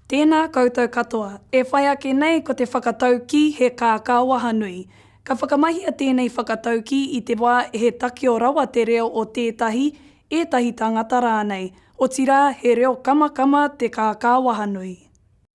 Tēnā koutou katoa. E whai ake nei ko te whakataukī he kākā wahanui. Ka whakamahia tēnei whakataukī i te wā he takeo rawa te reo o tētahi, ētahi tāngata rānei, otirā he reo kamakama te kākā wahanui.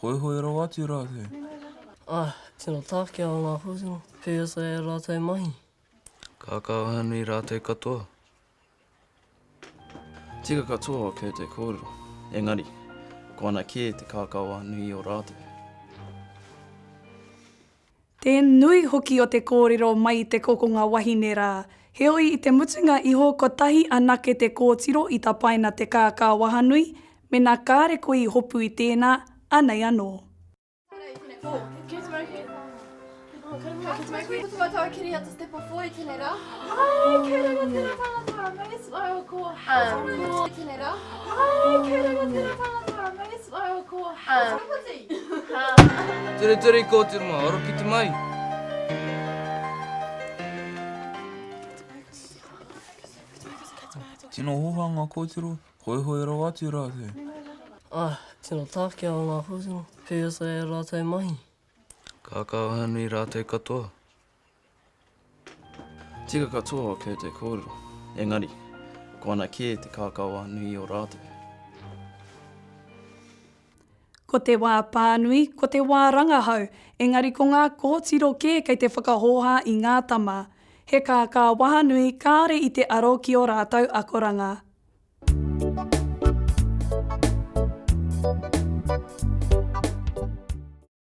Hoihoi rawa atu rātou. Āe, tino tākia o ngā kōtiro, pēwhea e rātou mahi. Kākāwhā nui rātou katoa. Tika katoa o kē te kōrero, engari, ko ana kē te kākāwhā nui o rātou. Te nui hoki o te kōrero mai i te kokonga wahine rā. Heoi i te mutunga iho kotahi anake te kōtiro i tapaina te kākā wahanui, mena kāre koe i hopu i tēnā, anei anō. Hai, kei reira tera whanata, may its oil ko Haramati. Ture ture i kōti ma, aro ki te mai. Tino hoha nga kōtiro, hoehoe rawa atu rātou. Ah, tino tākia o ngā kōtiro, kei roto e rātou mahi. Kākāoha nui rātou katoa. Tika katoa o Kurt e kōrero, engari, ko ana kē te kākaoa nui i ō rātou. Ko te wā pānui, ko te wā rangahau, engari ko ngā kōtiro kē kei te whakahōhā i ngā tama. He kākāwaha nui kāore i te aro ki ō rātou akoranga.